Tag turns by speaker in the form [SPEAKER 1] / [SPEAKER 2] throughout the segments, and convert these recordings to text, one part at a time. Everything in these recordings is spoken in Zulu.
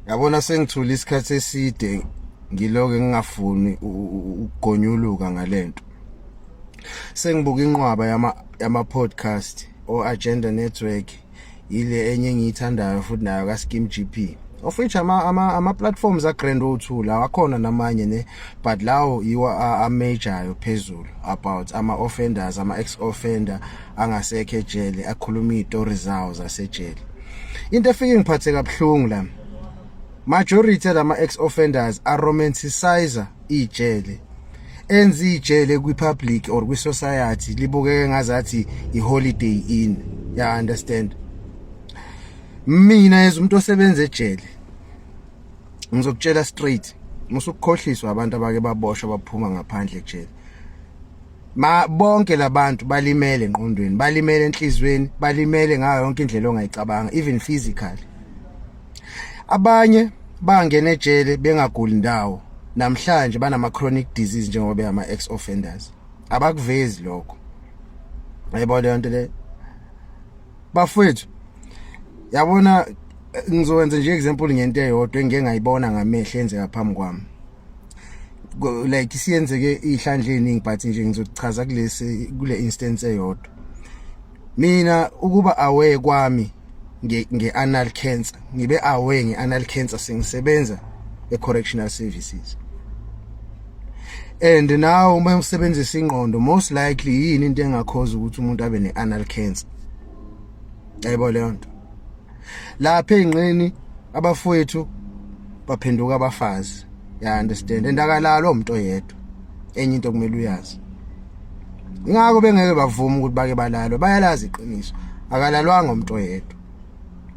[SPEAKER 1] yabona sengithule isikhathi eside ngiloke ngingafuni ukugonyuluka ngalento sengibuka inqwaba yama yama podcast o agenda network ile enye engiyithandayo futhi nayo ka Skim GP of which ama ama, ama platforms a Grand O2 lawa khona namanye ne but lawo yiwo a, a major phezulu about ama offenders ama ex offender angasekhe ejele akhuluma izitori zawo zasejele into efike ngiphathe kabuhlungu la majority lama ex offenders are romanticizer ijele enza ijele kwi public or kwi society libukeke ngazathi i holiday in ya understand mina as umuntu osebenza ejele ngizokutshela straight musukukhohliswa abantu abake baboshwa baphuma ngaphandle ejele ma bonke labantu balimele enqondweni balimele enhlizweni balimele ngayo yonke indlela ongayicabanga even physically abanye bangena ejele bengaguli ndawo namhlanje banama chronic disease njengoba beyama ex offenders abakuvezi lokho yebo le nto le bafethu yabona ngizowenza nje example ngento eyodwa engike ngayibona ngamehlo enzeka phambi kwami like siyenzeke ihlandle eningi but nje ngizochaza kulesi kule instance eyodwa mina ukuba aware kwami nge, nge anal cancer ngibe aware nge anal cancer sengisebenza e correctional services and now uma usebenzisa ingqondo most likely yini into engakhoza ukuthi umuntu abe ne anal cancer ayibona leyo nto lapha ezinqeni abafowethu baphenduka abafazi ya understand endakalalo umuntu oyedwa enye into kumele uyazi ingakho bengeke bavuma ukuthi bake balalwe bayalazi iqiniso akalalwanga umuntu oyedwa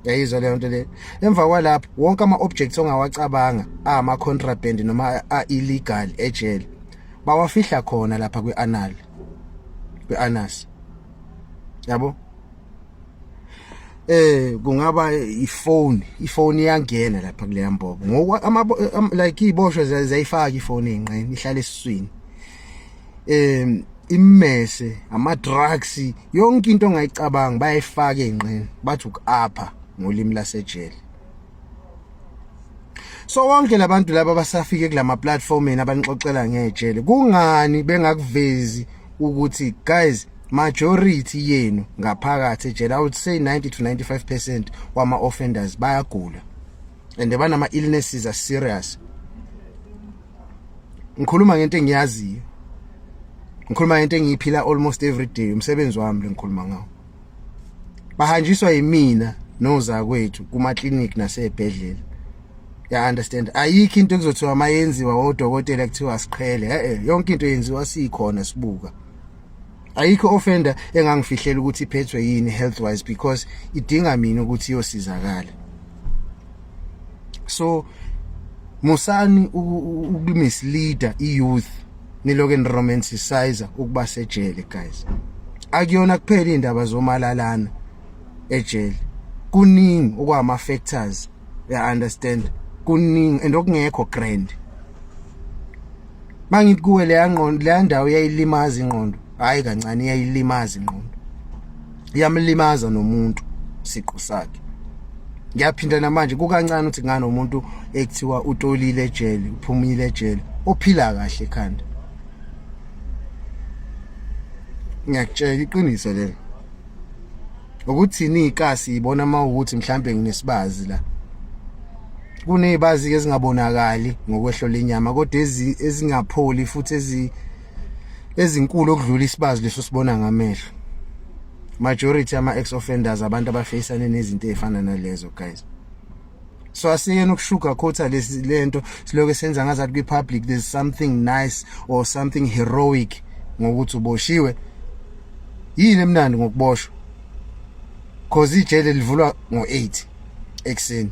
[SPEAKER 1] yayizwa leyo nto le emva kwalapho wonke ama-objects ongawacabanga ama-contraband noma a-illegal ejele bawafihla khona lapha kwi-anal kwi-anas yabo eh kungaba ifone ifone iyangena lapha kuleya mbobo ngoba ama like iboshwe zayifaka ifone enqeni ihlala esiswini em immese ama drugs yonke into ongayicabanga bayayifaka enqeni bathi ukuapha ngolimi lasejele so wonke labantu laba basafike kulama platform yena abanixoxela ngejele kungani bengakuvezi ukuthi guys majority yenu ngaphakathi ejele i would say 90 to 95% wama offenders bayagula and banama illnesses are serious ngikhuluma ngento engiyaziyo ngikhuluma ngento engiyiphila almost every day umsebenzi wami lengikhuluma ngawo bahanjiswa yimina nozakwethu kuma clinic nasebhedlela ya understand ayikho into ekuzothiwa mayenziwa odokotela kuthiwa siqhele eh yonke into yenziwa sikhona sibuka ayikho offender engangifihlela ukuthi iphethwe yini health wise because idinga mina ukuthi iyosizakala so musani ukumisleader iyouth niloke niromanticizer ukuba sejele guys akuyona kuphela indaba zomalalana ejele kuningi okwama factors ya understand kuningi and okungekho grand mangithi kuwe leya ngqondo leya ndawo yayilimaza ingqondo hayi kancane yayilimaza ingqondo iyamlimaza nomuntu siqu sakhe ngiyaphinda namanje kukancane ukuthi ngani umuntu ekuthiwa utolile ejele uphumile ejele ophila kahle ekhanda ngiyakutshela iqiniso lelo ukuthini ikasi ibona uma ukuthi mhlambe nginesibazi la kunezibazi ezingabonakali ngokwehlo lenyama kodwa ezingapholi futhi ezi ezinkulu okudlula isibazi leso sibona ngamehlo majority ama ex offenders abantu abafacane nezinto ezifana nalezo guys so asiyena ukushuga khotha lesi lento siloke senza ngazathi kwi public there's something nice or something heroic ngokuthi uboshiwe yini emnandi ngokuboshwa cause ijele livulwa ngo8 ekseni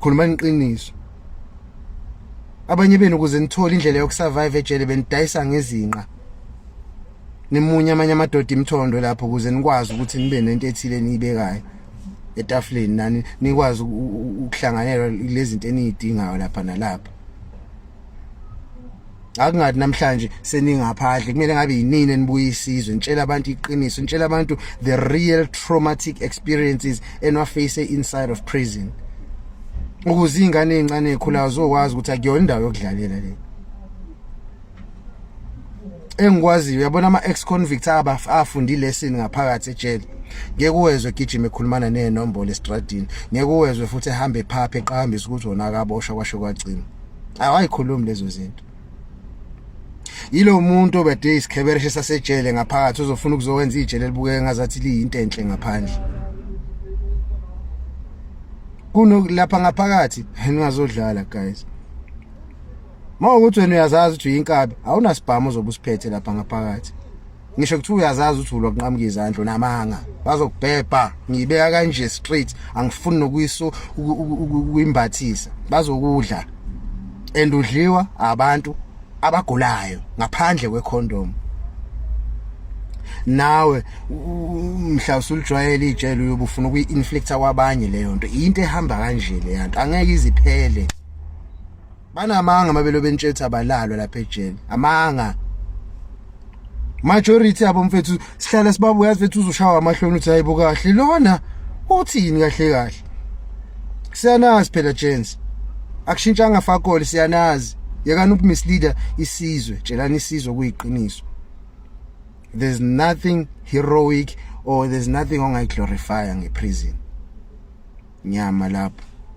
[SPEAKER 1] khuluma iqiniso abanye benu ukuze nithole indlela yokusurvive ejele benidayisa ngezinqa nimunye amanye amadoda imthondo lapho ukuze nikwazi ukuthi nibe nento ethile eniyibekayo etafuleni nani nikwazi ukuhlanganela lezi zinto eniyidingayo lapha nalapha akungathi namhlanje seningaphandle kumele ngabe yinini enibuye isizwe nitshela abantu iqiniso nitshela abantu the real traumatic experiences enwaface inside of prison ukuze ingane ezincane ekhulayo zokwazi ukuthi akuyona indawo yokudlalela le engikwaziyo uyabona ama ex convicts aba afundi lesson ngaphakathi ejele ngeke uwezwe gijima ekhulumana nenombolo estradini ngeke uwezwe futhi ehambe phaphe eqhambisa ukuthi wona akaboshwa kwasho kwagcina awayikhulumi lezo zinto yilo muntu obede isikhebereshe sasejele ngaphakathi uzofuna ukuzowenza ijele libukeke ngazathi liyinto enhle ngaphandle kuno lapha ngaphakathi ningazodlala guys mawukuthi wena uyazazi ukuthi uyinkabi awunasibhamu ozobe usiphethe lapha ngaphakathi ngisho kuthiwa uyazazi ukuthi ulwa kunqamuka izandla namanga bazokubhebha ngiyibeka kanje straight angifuni nokuyiso ukuyimbathisa bazokudla and udliwa abantu abagulayo ngaphandle kwecondom nawe mhla usulijwayele ijele uyobufuna ukuyi-inflicta kwabanye leyo nto into ehamba kanje leyanto angeke iziphele banamanga mabelo bentshetha balalwa lapha ejele amanga majority abo mfethu sihlala sibabuya yazi fethu uzoshawa amahloni uthi hayibo kahle lona uthini kahle kahle siyanazi phela gents akushintshanga fakole siyanazi yekani ukumisleader isizwe tshelani isizwe kuyiqiniso there's nothing heroic or there's nothing ongayiglorifya ngeprison nyama lapho